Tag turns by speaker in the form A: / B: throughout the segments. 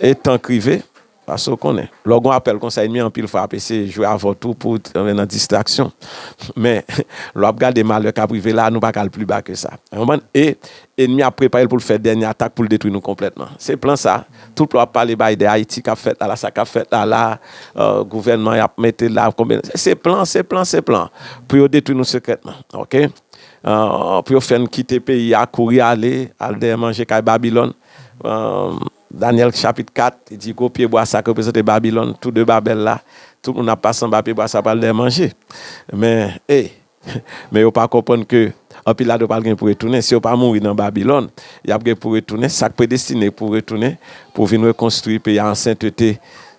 A: E tank rive, paske ou konnen. Lè w gen yon apèl konsa ènmi anpil fwa ap eseye jwe avèw tou pou antre nan distraksyon. Men, lè w ap gade malè k ap rive la a, nou pa ka al pli ba ke sa. Ou konprann? E ènmi ap prepare l pou l fè dènye atak pou l detwi nou konplètman. Se plan sa. Tout lè w ap pale bay de Ayiti k ap fèt la la, sa k ap fèt la la, gouvènman y ap mete la, konbyen. Se plan, se plan, se plan. Pou yo detwi nou sekrètman. Oke? Pou yo fè n kite peyi a, kouri ale, al dèyè manje kay Babilòn. Danyèl chapit 4, li di gwo pyebwa sa ki reprezante Babilòn, tou de Babèl la, tout moun ap pase anba pyebwa sa yo pral dèmanje. Men, e, men yo pa konprann ke anpil ladan yo pral gen pou retounen. Si yo pa mouri nan Babilòn, y ap gen pou retounen. Sa k predestine pou retounen, pou vin rekonstwi peyi a an sentete,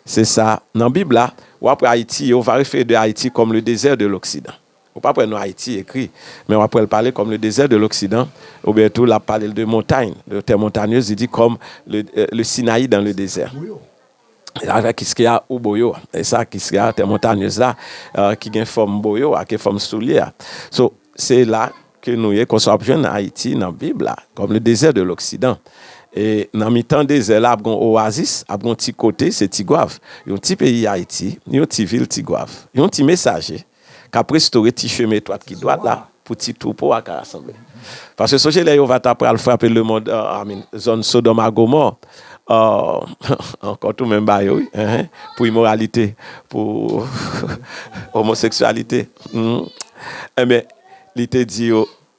A: se sa. Nan Bib la, w ap wè Ayiti, Jewova refere de Ayiti kòm le dezè de loksidan. Ou pap wè non Ayiti ekri, men wap wè l pale kòm le dezè de loksidan, oubyen tou lap pale l de montagn, de tè montanyez, li di kòm le Sinayi dan le dezè. Avèk Kiskeya ou Boyo, e sa Kiskeya, tè montanyez la, ki gen fòm boyo a, ki gen fòm soulye a. So, se la ke nou ye, konsa wap jwenn Ayiti nan Bib la, kòm le dezè de loksidan. E nan mitan dezè la ap gen yon owazis, ap gen yon ti kote, se Tigwav. Yon ti peyi Ayiti, yon ti vil Tigwav. Yon ti mesaje. k ap restore ti chemen etwat ki dwat la pou ti twoupo a ka rasanble. Paske sonje lè Jewova t apral frape lemonn, I mean, zòn Sodòm ak Gomò, ankò tou menm ba yo, wi, enhen, pou imoralite, pou omoseksyalite, enben, li te di yo,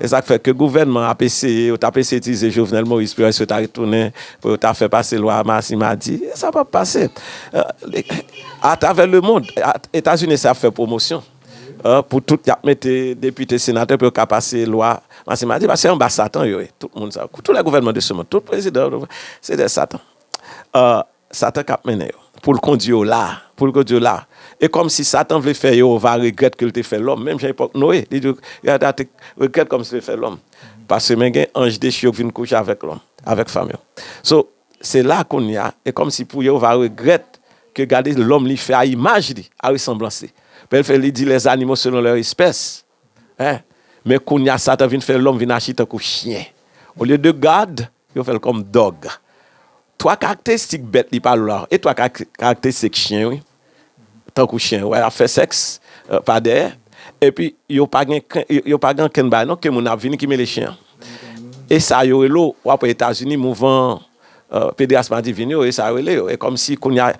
A: E sa k fè ke gouvènman ap eseye, yo t ap eseye itilize Jovenel Moïse pou yo wè si yo ta retounen, pou yo ta fè pase lwa Marsi Madi. E sa p ap pase. Atravè lemond, Etazini eseye ap fè pwomosyon pou tout y ap mete depite, senatè pou yo ka pase lwa Marsi Madi. Paske se anba satan yo ye. Tout moun sa yo. Tou lè gouvènman de se mond. Tout prezidan. Se de satan. Satan k ap mennen yo. Pou l kondi yo la a. Pou l kondi yo la a. E kòmsi Satan vle fè Jewova regrèt ke l te fè lòm, menm jan epòk Noye, li di Jewova te regrèt kòmsi l te fè lòm. Paske men gen anj dechi yo ki vin kouche avèk lòm, avèk fanm yo. So, se la a kounye a, e kòmsi pou Jewova regrèt ke gade lòm li fè a imaj li, a resanblans li. Byen l fè, li di, lèzanimo selon lèr espès. Hein men kounya satan vin fè lòm vin achi tankou chyen olye de God yo fèl kòm dog 3 karaktestik bèt li pa lwa e 3 karaktestik chyen wi tankou chyen wè ap fè sèks pa dèyè epi yo pa gen yo pa gen ankenn bagay non ke moun ap vini ki mele chyen e sa yo relo wap wè etazini mouvan Pedras madivin yo e sa yo rele yo e kòmsi kounya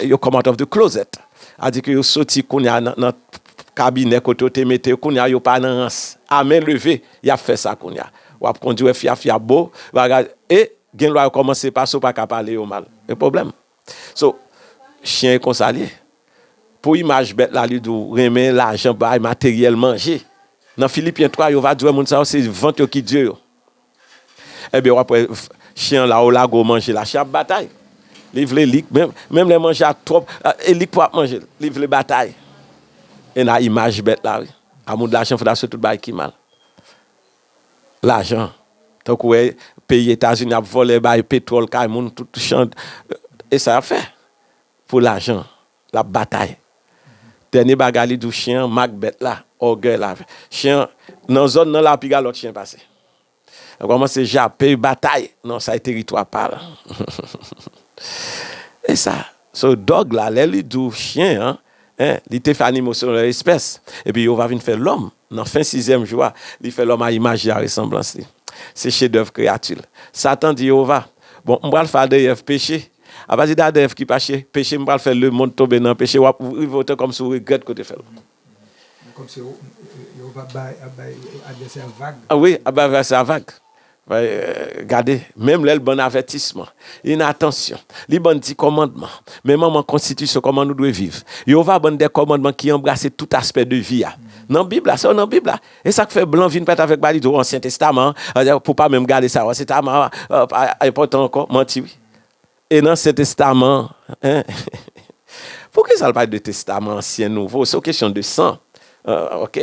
A: yo come out of the closet adi ke yo soti kounya nan kabinè kote yo te mete yo kounya yo pa nan rans a men leve yap fè sa kounya wap kondi wè fia fia bo bagay e gen lwa yo kòmanse pase ou paka pale yo mal e pwoblèm so chyen e konsa li ye pou imaj bèt la li di w renmen lajan bay materyèl manje nan filipyen 3 yo va di w moun sa yo se vant yo ki dye yo. Ebyen wap wè Chen an la ou lago manje la Chen ap batay li vle lik menm lè manje a twòp e lik pou ap manje l li vle batay e la imaj bèt la wi a moun lajan fè la sou tout bagay ki mal lajan tankou wè peyi etazini ap vòlè bay petwòl kay moun tout chan e sa yap fè pou lajan Lap batay. Dènye bagay li di w chyen an mak bèt la, ògèy la. Chyen an, nan zòn nan la piga lòt chyen pase. Lap kòmanse jape, batay, non sa e teritwa pa l. E sa. So dòg la lè li di w chyen an, en, li te fè animo selon lè espès. Epi Jewova vin fè lòm nan fen sizyèm jou a, li fè lòm a imaj li, a resanblans li. Se chedèv kreyati l. Satan di Jewova, Bon, m pral fè Adan e Èv peche. Apati de Adan Èv ki pache, peche m pral fè lemond tonbe nan peche, w ap rive otè kòmsi w regrèt ke w te fè l. Kòmsi
B: Jewova ap bay advèsè a vag. Wi, ap bay advèsè a
A: vag. Gade, menm lè l ban n avètisman, inatansyon, li ban n ti kòmandman, menm anvan konstitisyon kòman nou dwe viv, Jewova ban n de kòmandman ki anbrase tout aspè de vi a. Nan Bib la, sa yo nan Bib la. E sa k fè blan vin pèt avèk ba li di w Ansyen testaman an, pou w pa menm gade sa yo Ansyen testaman an pa enpòtan ankò. Manti wi. E nan ansyen testaman an, poukisa l pa de testaman ansyen, nouvo, se yon kesyon de san, ok,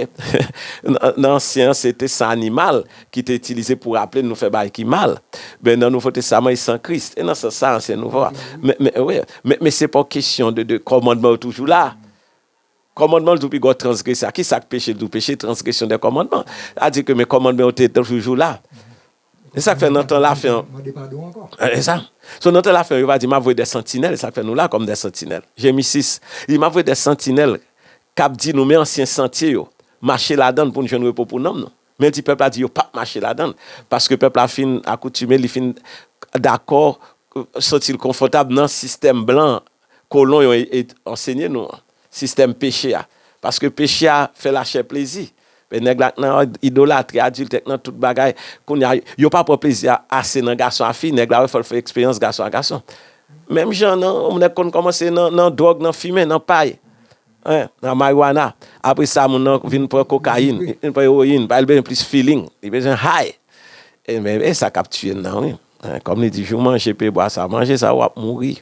A: nan ansyen an se te san animal ki te itilize pou raple nou fè bagay ki mal, men nan nouvo testaman e san Kris, e nan sans sa ansyen e nouvo a, men se pa yon kesyon de kòmandman yo toujou la, kòmandman l di w pi gwo transgresè a, kisa k peche l di w peche, transgresyon de kòmandman, sa vle di ke men kòmandman yo te toujou la. Se sa k fè nan tan lafen an. Mande padon ankò. E sa. So nan tan lafen an yo va di m ap voye de santinèl, e sa k fè nou la kòm de santinèl. Jeremi 6. Li di m ap voye de santinèl k ap di nou men ansyen santye yo, mache ladan l pou n jwenn repo pou nanm nou. Men l di pèp la di yo pap mache ladan l, paske pèp la fin akoutime, li fin dakò, santi l konfòtab nan sistèm blan an. kolon yo et ansenye nou an, sistèm peche a. Paske peche a fè lachè plezi. Men nèg la k nan idolatri, adiltè, k nan tout bagay, kounye a yo pa pran plezi a ase nan gason a fi, nèg la wè fò l fè eksperyans gason a gason. Menm jan nan yon nèg konn kòmanse nan dwòg, nan fimen, nan pay, hein, nan marijuana, apre sa moun nan vin pran kokayin, li vin pran ewoyin, bay l bezwen plis feeling, li bezwen high. E men e sa k ap tiye n nan wi. Kòm li di jou manje pye bwa sa manje sa wap mouri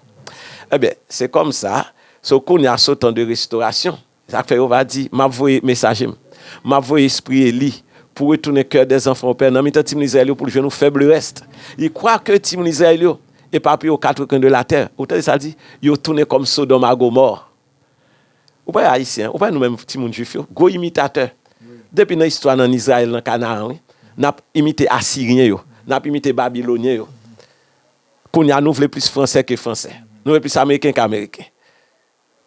A: ebyen se kòm sa so kounya so tan de restorasyon sak fè yo va di map voye mesaje m map voye espri eli pou retounen kè dè zanfan ou pè nan mitan ti moun izrayèl yo pou l jwenn ou fèb le rèst li kwa kè ti moun izrayèl yo epapiye o katrekwen de latè ou tande sa l di yo tounen kòm sodòm a gomò. Ou pa wè Ayisyen, ou pa wè nou menm timoun jwif yo, gwo imitatè. Depi nan istwa nan Izrayèl, nan Kanaran wi. N ap imite Asiryen yo. N ap imite Babilonyen yo. Kounye a nou vle plis Fransè ke Fransè. Nou vle plis Ameriken ke Ameriken.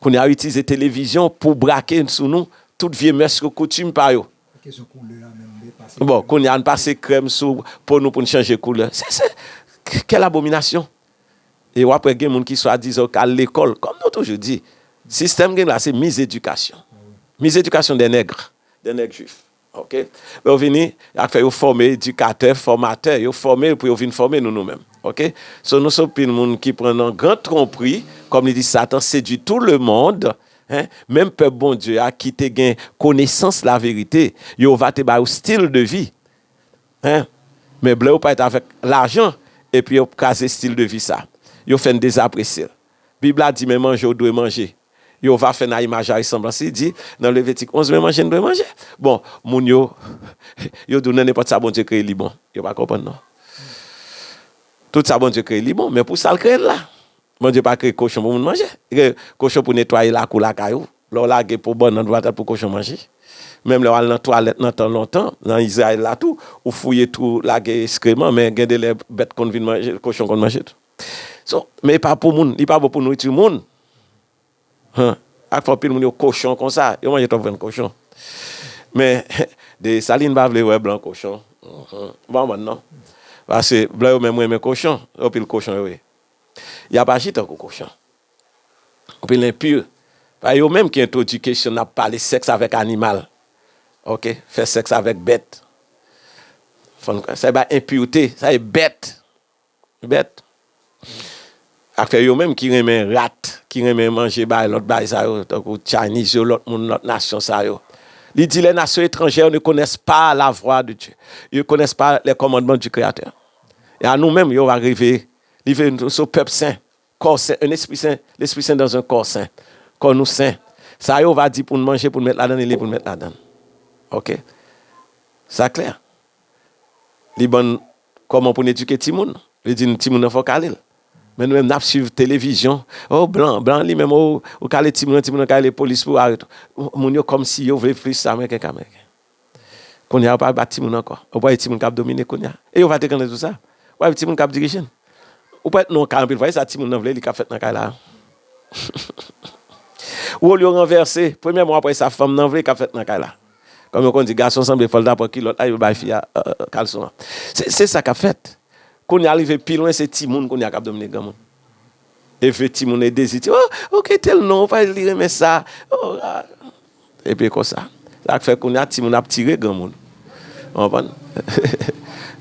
A: Kounye a yo itilize televizyon pou brake sou nou tout vye mès yo, koutim pa yo. Bon, kounye a n pase krèm sou po nou pou n chanje koulè. Se, se, kèl abominasyon! E wap wè gen moun ki swadizan yo k al lekòl. Kòm nou toujou di, sistèm gen la se mizedikasyon. Mizedikasyon dè nèg, dè nèg jwif. Oke. Lè yo vini, y ap fè yo fòme edikatè, fòmatè. Yo fòme pou yo vin fòme nou nou menm. Oke. So nou se yon pil moun ki pran nan gran twonpri. Kòm li di satan sedui tou lemond. Hein. Menm pèp Bondye a ki te gen konesans laverite, Jewova te ba yo stil de vi. Hein Men blew pa et avek lajan epi yo kraze stil de vi sa. Yo fèn dezapresye l. Bib la di men manje w dwe manje. Yehova fè n a imaj a resanblans li, di nan Levitik 11 men manje n dwe manje. Bon, moun yo yo di w nan nenpòt sa Bondye kreye li bon. Yo pa konprann non. Tout sa Bondye kreye li bon, men pou sa l kreye l la. Bondye pa kreye kochon pou moun manje. Li kreye kochon pou netwaye lakou lakay ou. Lè w lage po bannann w atat pou kochon manje. Menm lè w al nan twalèt nan tan lontan, nan Izrayèl la tou, ou fouye twou ou lage eskreman, men gen de lè bèt konn vin manje l, kochon konn manje l tou. So, men e pa pou moun, li pa bon pou nouriti moun. Huh. Ak fò anpil moun yo kochon konsa, yo manje twòp vyann kochon. Men, Dessalines pa vle wè blan kochon. Uhmm. M pa konprann non. Pase blan yo menm renmen kochon, yo pil kochon yo ye. Y ap aji tankou kochon. Ou vin enpur. Pa yo menm ki entwodui kesyon nap pale sèks avèk animal. Ok. Fè sèks avèk bèt. Sa e bay enpurte. Sa e bèt. Bèt. Afè yo menm ki renmen rat, ki renmen manje bagay lòt bagay sa yo, tankou Chinese yo, lòt moun, lòt nasyon sa yo. Li di les nations étrangères ne connaissent pas la voix de Dieu. Ils ne connaissent pas les commandements du Créateur. E a nou menm yo va reveye. Li vle nou se yon pèp sen. Kò sen, un esprit saint, l'esprit saint dans un corps saint, kò nou sen, sa yo va di pou n manje, pou n met ladan li, li pou n met ladan l. Ok. Sa klè. Li ban n kòman pou n edike timoun. Li di n timoun nan fò w kale l. Men nou menm n ap swiv televizyon, oh blan, blan li menm, oh ou kale timoun nan, timoun nan kale polis pou arete w. Moun yo kòmsi yo vle plis ameriken ke ameriken. Kounye a, yo pa bat timoun ankò. Yo pa gen timoun k ap domine kounye a. E yo pa te konnen tou sa. Ou pa wè timoun k ap dirije n. Ou pa wè non kay anpil fwa. E sa timoun nan vle li k ap fèt nan kay la a. Wòl yo ranvèse. Premyèman, w ap wè sa fanm nan vle k ap fèt nan kay la. Kòm yo konn di gason sanble fò l ta pran kilòt la, yo bay fi a kalson an. Se sa k ap fèt. Kounye a rive pi lwen, se timoun kounye a k ap domine granmoun. Efe timoun e dezi ti oh ok tel non pa li renmen sa oh a epi konsa sak fè kounya timoun ap tire granmoun konprann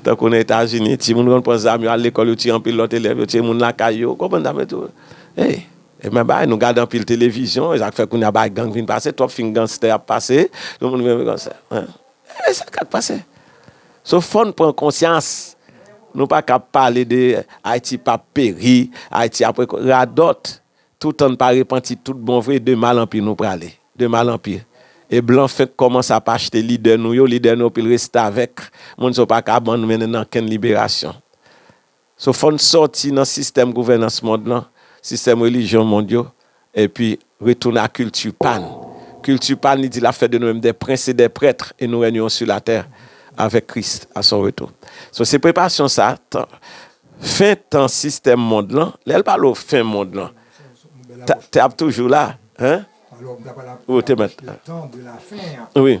A: tankou nan etazini timoun konn pran zam yo al lekòl yo tiye anpil lòt elèv yo tiye moun lakay yo konprann sa m tou hey e men bagay nou gade anpil televizyon esak fè kounya bagay gang vin pase twòp fim ganstè ap pase tout moun vin konsa. Ebyen se sak pase. So fòn pran konsyans. Nou pa ka pale de Ayiti pa peri, Ayiti ap re radòt. Toutan n pa repanti tout bon vre de mal an pi nou prale. De mal an pi. E blan fenk kòmanse ap achte lidè nou yo, lidè nou yo pil restavèk. Moun sa w pa ka ban mennen nan kenn liberasyon. So fò n sòti nan sistèm gouvènans mond lan, sistèm relijyon mond yo, epi retounen a kilti pa n. Kilti pa n, li di l ap fè de nou menm dè prens e dè prètr e nou renyeron su latè avèk Kris a son retou. So se preparasyon sa tan, fen tan sistèm mond lan, lè l pale w fen mond lan, ta, te ap toujou la, hein?
B: Ou te mèt. Wi.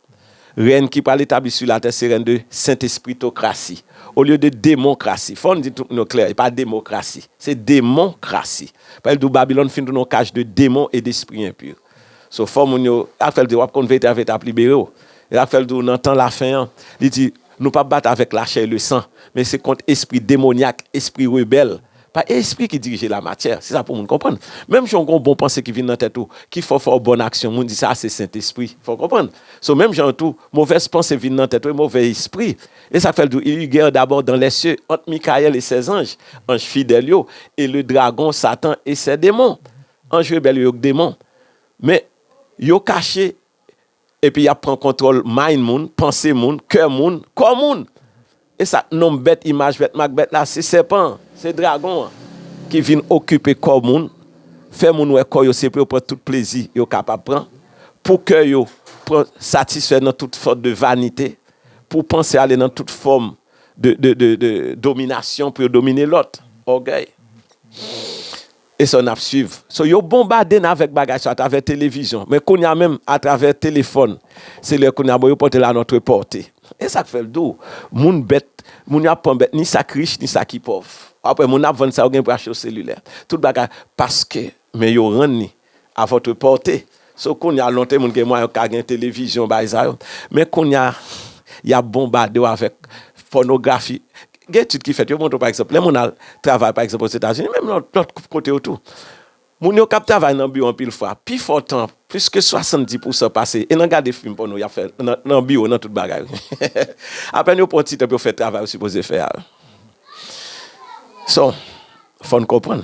A: Rèn ki pral etabli sou latè se rèn de sentespritokrasi, olye de demonkrasi. Fò n di tout moun yo klè, e pa demokrasi, se demonkrasi. Paske l di w Babilòn fin tounen yon kaj de demon e despri enpi. So fò moun yo, sa k fè l di w ap konn verite a, verite ap libere w. E sa k fè l di w nan tan lafen an, li di, nou p ap batay avèk lachè e lesan, men se kont espri demonyak, espri rebèl, Pa espri ki dirije lamatyè, se sa pou moun konprann. Menm jan w gen yon bon panse ki vin nan tèt ou, ki fè w fè yon bon aksyon, moun di sa se Sentespri. Fè w konprann? So, menm jan an tou, movèz panse vin nan tèt ou e move espri. E sa k fè l di w, Il eut guerre d'abord dans les cieux entre Michaël et ses anges, anj fidèl yo, et le dragon, Satan, et ses démons. Anj rebèl yo, yo k demon. Men, yo kache Epi yap pran kontwòl mind moun, panse moun, kè moun, kò moun! Esa k nom bèt, imaj bèt, mak bèt la, se sèpan an, se dragon an ki vin okipe kò moun, fè moun wè kò yo se pou yo pran tout plezi yo kapab pran, pou kè yo pran satisfè nan tout sòt de vanite, pou panse yo ale nan tout fòm de dominasyon pou yo domine lòt, ògèy. E sa nap swiv. So yo bonbade n avèk bagay sa atravè televizyon. Men kounya menm atravè telefòn selilè kounya bon yo pote l a notre porte. E sak fè l dou. Moun bèt, moun yo ap pran bèt ni sa k rich ni sa ki pòv. Wap wè moun ap vann sa yo gen pou yo achte yo selilè. Tout bagay paske men yo rann li a votre porte. So kounya lonte moun gen mwayen yo ka gen televizyon bay sa yo. Men kounya yap bonbade w avèk pònografi. Gen etid ki fèt yo montre w pa egzanp lè moun al travay pa egzanp Ozetazini menm nan lòt kote yo tou. Moun yo kap travay nan biwo anpil fwa pi fò tan plis ke 70 pousan pase e nan gade fim pòno yap fè nan biwo nan tout bagay wi. Apèn yo pran ti tan pou yo fè travay yo sipoze fè a. So fò n konprann.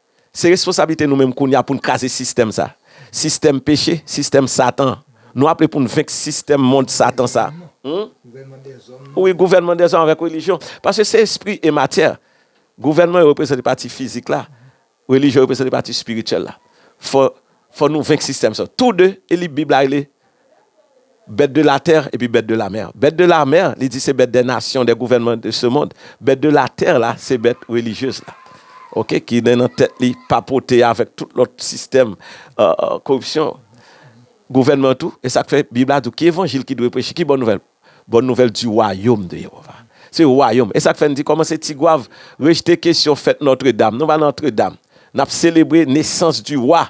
A: Se responsablite nou menm kounye a pou n kraze sistèm sa a. Sistèm peche, sistèm Satan an. Nou aple pou n venk sistèm mond Satan sa a.
B: Wi, gouvènman dèzòm avèk
A: relijyon. Paske se espri e matyè. Gouvènman yo reprezante pati fizik la, relijyon yo reprezante pati espirityèl la. Fò nou venk sistèm sa yo. Tou de, e li Bib la rele Bèt de latè epi bèt de lamè. Bèt de lamè, li di se bèt dè nasyon, dè gouvènman de se mond. Bèt de latè la, se bèt relijyez la. Ok, ki gen nan tèt li papote avèk tout lòt sistèm koripsyon gouvènman tou. E sa k fè Bib la di w ki evanjil ki dwe preche, ki bòn nouvèl? Bòn nouvèl di wayom de Jewova. Se wayom. E sa k fè n di kòman se Tigwav rejte kesyon fèt Nòtredam. Nou pa Nòtredam. N ap selebre nesans di Wa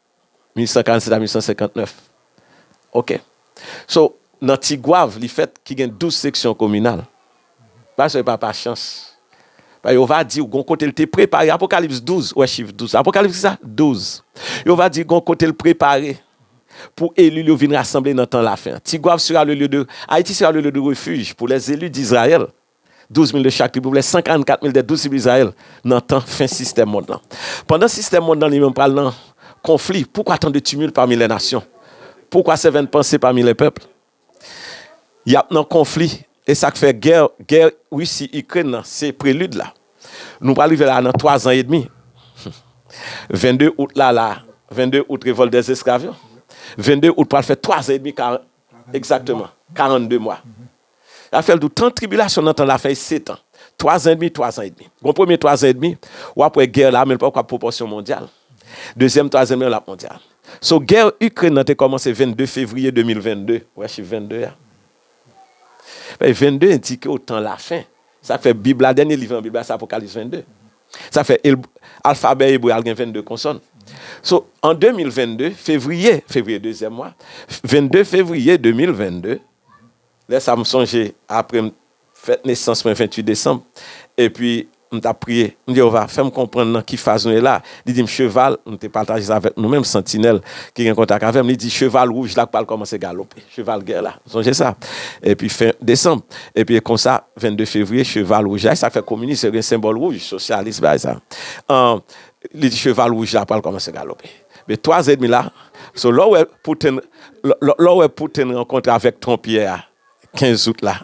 A: 1847 a 1859 ok so nan tigwav li fèt ki gen 12 seksyon kominal pa se pa pa chans pa yo va diw gon kotel te prepare apokalips 12 wè chif 12 apokalips kisa 12 yo va di gon kotel prepare pou elil yo vin rasanble nan tan lafen tigwav sera le lye de ayiti sera le lye de refij pou lè zeli dizrayèl. Douz mil de chak trib pou vle 144 mil de douz trib Izrayèl nan tan fen sistèm mond lan. Pandan sistèm mond lan li menm pral nan konfli, poukwa tan de tumult pami lè nasyon? Poukwa sevèn panse pami lè pèp? Y ap nan konfli, e sa k fè gè, gè Risi Ikrèn nan se prelid la. Nou pral rive la a nan twa zan edmi. Vende out la la, vende out revòlt dè zesklav yo. Vende out pral fè twa zan edmi, egzakteman, karannde mwa. Rafèl di w, tan tribilasyon nan tan lafen e setan, twa zan edmi, twa zan edmi. Gon premye twa zan edmi, w ap wè gè la, men li poko ap pwopòsyon mondyal. Dezyèm twa zan edmi an, l ap mondyal. So, gè Ikrèn nan te kòmanse 22 fevriye 2022. Ou wè chif 22 a? Paske 22 endike w tan lafen. Sa k fè Bib la, dènye liv nan Bib la, se Apokalis 22. Sa fè el, alfabè ebre a l gen 22 konsòn. So, an 2022, fevriye, fevriye dezyèm mwa, 22 fevriye 2022, Lè sa m sonje apre m fèt nesans mwen 28 desanm epi m t ap priye m di Jewova fè m konprann nan ki faz nou ye la li di m cheval m te pataje sa avèk nou menm santinèl ki gen kontak avè m li di cheval wouj la pral kòmanse galope cheval gè la m sonje sa epi fen desanm epi e konsa 22 fevriye cheval wouj la e sa k fè kominis yo gen senbòl wouj sosyalis bay sa an li di cheval wouj la pral kòmanse galope. Be 3 zè demi la so lè w wè Putin lè w wè Putin rankontre avèk Trump yè a 15 out la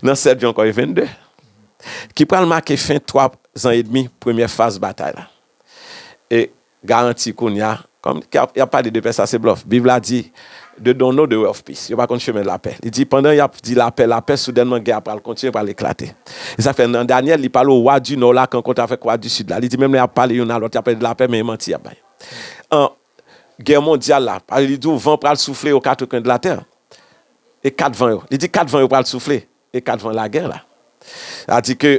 A: nan 7 jan kò e 22 ki pral make fen 3 zan edmi premyè faz batay la e garanti kounya kòm y ap pale de pè sa se blòf bib la di They don't know the way of peace. Yo pa konn chemen lapè. Li di, pandan y ap di lapè, lapè, soudènman gè a pral kontinye, l pral eklate. Se sa k fè nan Dànyèl, li pale o wa di Nò la k ankontre avèk wa di Sid la. Li di menm lè y ap pale youn a lòt, y ap pale de lapè, men e manti y ap bay. An, gè mondyal la, li di w van pral soufle o katrokwen de latè, e kat van yo. Li di kat van yo pral soufle. E 4 van lagè la. Sa di ke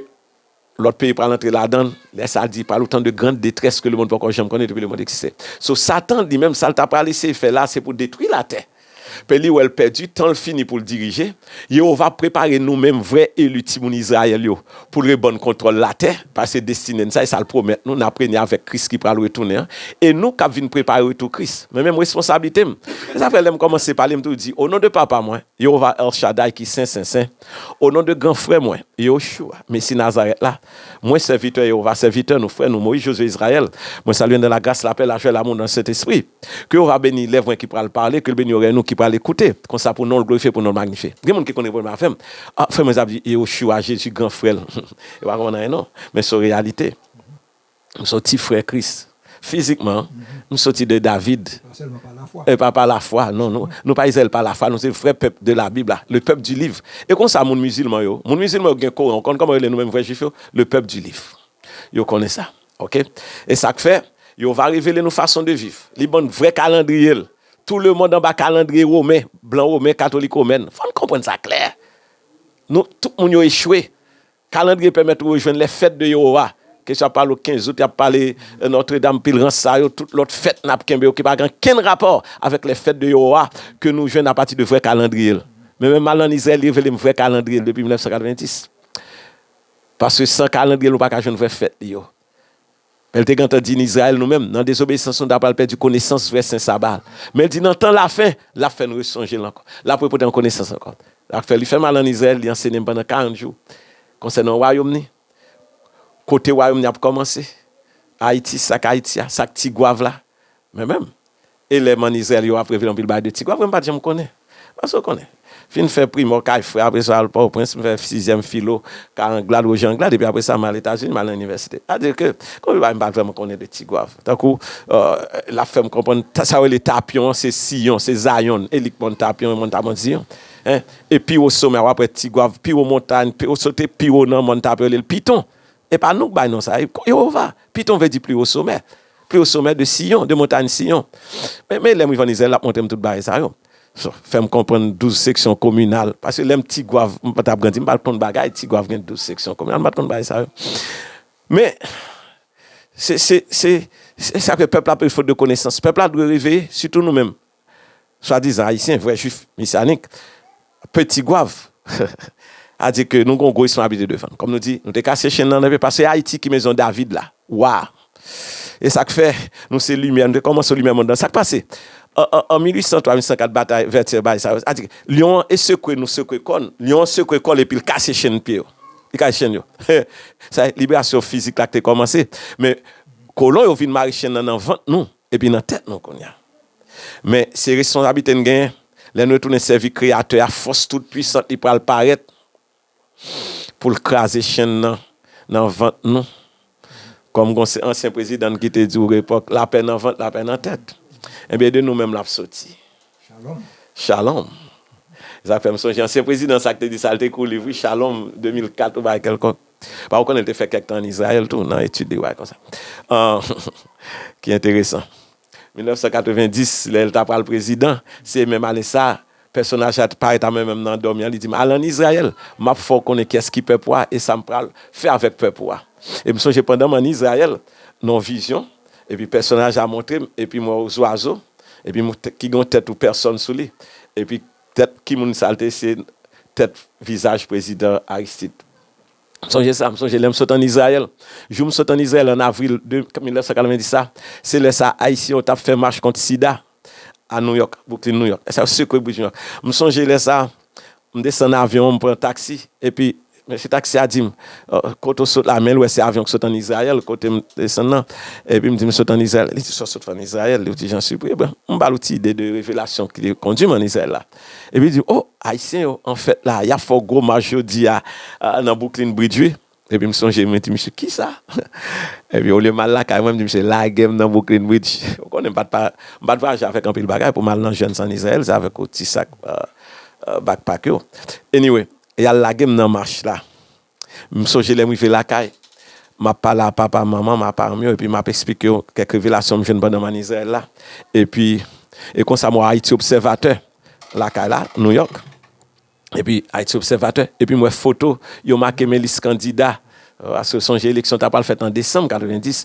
A: lòt peyi pral antre ladan l. Lè sa di pral otan de grand detrès ke lemond poko janm konnen depi lemond egziste. So Satan li menm sa l ta pral eseye fè la se pou detwi latè. Pè li wè l pèdi, tan l fini pou l dirije. Yehova ap prepare nou menm vrè eli timoun Izrayèl yo pou l rebann kontwòl latè, pase destine n sa e sa l pwomèt nou, n ap renye avèk Kris ki pral retounen an, e nou k ap vin prepare retou Kris. Men menm responsablite m. Se sa k fè lè m kòmanse pale, m toujou di, Onon de Papa mwen, Yewova El Shaddai ki sen, sen, sen, onon de gran frè mwen, Yeshua, Mesi Nazarèt la, mwen, sèvitè Yewova, sèvitè nou, frè nou, Moïse Josué Israël, mwen salye n nan lagras, lapè, lajwa e lamou nan Sentespri. Ke Yehova beni lèv mwen ki pral pale, ke l beni orèy nou ki pral ekoute, konsa pou non l glorifye, pou non l magnifye. Gen moun ki konn repon menm avè m, A, frè mwen sa ap di Yehoshua, Jezi gran frè l. Yo pa konprann anyen non, men se yon reyalite. M se yon ti frè Kris, fizikman, m soti de David,
B: e pa pa lafwa, non,
A: nou, nou pa Izrayèl pa lafwa, nou se vrè pèp de labib la, le pèp di liv. E konsa moun mizilman yo, moun mizilman yo ki gen Koran, ou konn kòman yo rele nou menm vrè Jwif yo? Le pèp di liv. Yo konnen sa. Ok. E sa k fè, Yehova revele nou fason de viv. Li ban n vrè kalandriye l. Tou lemonn anba kalandriye women, blan women, katolik women. Fò n konprann sa klè. Nou, tout moun yo echwe. Kalandriye pèmèt ou rejwenn lè fèt de Yehowa. Kesyon ap pale ou 15 out, y ap pale Notre Dame, pil rans sa yo, tout lòt fèt n ap kenbe yo ki pa gen ankenn rapò avèk lè fèt de Yehowa ke nou jwenn apati de vrè kalandriye l. Men, men m al ann Izrayèl, li revele m vrè kalandriye l depi 1990. Paske san kalandrye l nou pa ka jwenn vrè fèt li yo. Men l te gentan di, Izrayèl, nou menm, nan dezobeyisans nou, n a pral pèdi konesans vrè sen saba a. Men l di, Nan tan lafen, l ap fè nou resonje l ankò. L ap repote nou konesans ankò. Sa k fè li fè mal ann Izrayèl, li ansene m pandan karant jou konsènan wayòm ni, kote wayòm ni ap kòmanse, Ayiti, sa k Ayiti a, sa k Tigwav la, Mwen menm, elèm ann Izrayèl yo ap reve anpil bagay de Tigwav, mwen pa t janm konnen. Pase w konnen. Fin fè primò kay frè, apre sa al Pòtoprens, m fè sizyèm filo kay Anglad, Woje Anglad, epi apre sa m al Etazini, m al nan inivèsite. Sa di ke konbyen bagay m pa t vrèman konnen de Tigwav. Tankou, l ap fè m konprann sa yo rele Tapyon an se Siyon, se Zayonn, e li k mòn Tapyon e mòn Tapyon Ziyon. E pi wo somè a w ap wè Tigwav, pi wo montay, pi w sote pi wo nan mòn Tapyon yo rele l Piton. E pa nou k bay non sa a, e Jewova. Piton vle di pli wo somè. Pli wo somè de Siyon, de montayn Siyon. Men lè m rive ann Izrayèl, l ap montre m tout bagay sa yo. Fè m konprann douz seksyon kominal. Paske lè m Tigwav, m pa t ap grandi, m pa t konn bagay Tigwav gen douz seksyon kominal. M pa t konn bagay sa yo. Men, se sa k fè pèp la ap peri fot de konesans. Pèp la dwe reveye, sitou nou menm. Swadizan Ayisyen, vrè Jwif Mesyanik, pe Tigwav. A di ke nou gen yon gwo responsablite devan n. Kòm nou di, nou te kase chenn nan epi pase Ayiti ki mezon David la, wa a. E sa k fè nou se limyè, nou te kòmanse limyè monn nan. Sa k pase? An 1803, 1804, batay Vètyè, bay sa yo. A di, lyon an e sekwe nou sekwe kò n, lyon an sekwe kò l epi l kase chenn pye yo. Li kase chenn yo. Sa e, liberasyon fizik la ki te kòmanse. Men, kolon yo vin mare chenn nan nan vant nou. Epi nan tèt nou kounye a. Men, se responsablite n genyen. Lè n retounen sèvi Kreyatè a, fòs toutpuisant li pral parèt pou l kraze chenn nan nan vant nou. Kòm gen yon ansyen prezidan n ki te di yon epòk, Lapè nan vant, lapè nan tèt. Enben, de nou menm l ap soti. Shalom.
B: Shalom.
A: Se sa k fè m sonje ansyen prezidan sa k te di sa, l te ekri yon liv wi, Shalom, 2004 oubyen kèlkonk. Ba ou konnen l te fè kèk tan ann Izrayèl tou nan etid de wa konsa. Ki enteresan. 1990, lè l t apral prezidan, se menm ane sa a, pèsonaj sa a te parèt a mwen menm nan dòmi an, li di m, Al ann Izrayèl, m ap fè w konnen kiyès ki pèp ou a e sa m pral fè avèk pèp ou a. E m sonje pandan m ann Izrayèl, nan yon vizyon, epi pèsonaj la montre m, epi m wè yon zwazo, epi ki gen yon tèt ou pèsòn sou li, epi Tèt ki moun sal te se tèt vizaj prezidan Aristid. M sonje sa, m sonje lè m sot an Izrayèl. Jou m sot an Izrayèl an avril 1990 la, se lè sa Ayisyen yo t ap fè mach kont sida a Nouyòk, Bwouklin, Nouyòk. Lè sa yo sekwe brij Nouyòk. M sonje lè sa, m desann avyon an, m pran taksi, epi Mesye taksi a di m, Kote w sot la? Men l wè se avyon ki sot ann Izrayèl kote m desann lan. Epi m di, M sot ann Izrayèl. Li di, Sa w sot fè ann Izrayèl? Li di, Jan sipri. Ebyen, m ba l yon ti ide de revelasyon ki te kondi m ann Izrayèl la. Epi li di, O, Ayisyen yo an fèt la a. Y ap fè yon gwo mach jodi a nan Bwouklin Bridj wi. Epi m sonje, mwen di misye, Kisa? Epi olye m al lakay mwen, m di misye, Lage m nan Bwouklin Bridj. Ou konnen m pa t m pa t vwayaje avèk anpil bagay pou m al nan jèn san Izrayèl, se avèk yon ti sak bakpak yo. Anyway, Y al lage m nan mach la. M sonje lè m rive lakay, m ap pale a papa, manman m, a paran m yo, epi m ap esplike yo kèk revelasyon m jwenn pandan m ann Izrayèl la. Epi, e konsa m wè Ayiti Obsèvatè lakay la, Nouyòk. Epi, Ayiti Obsèvatè, epi m wè foto yo make men lis kandida, paske sonje eleksyon ta pral fèt an desanm 90.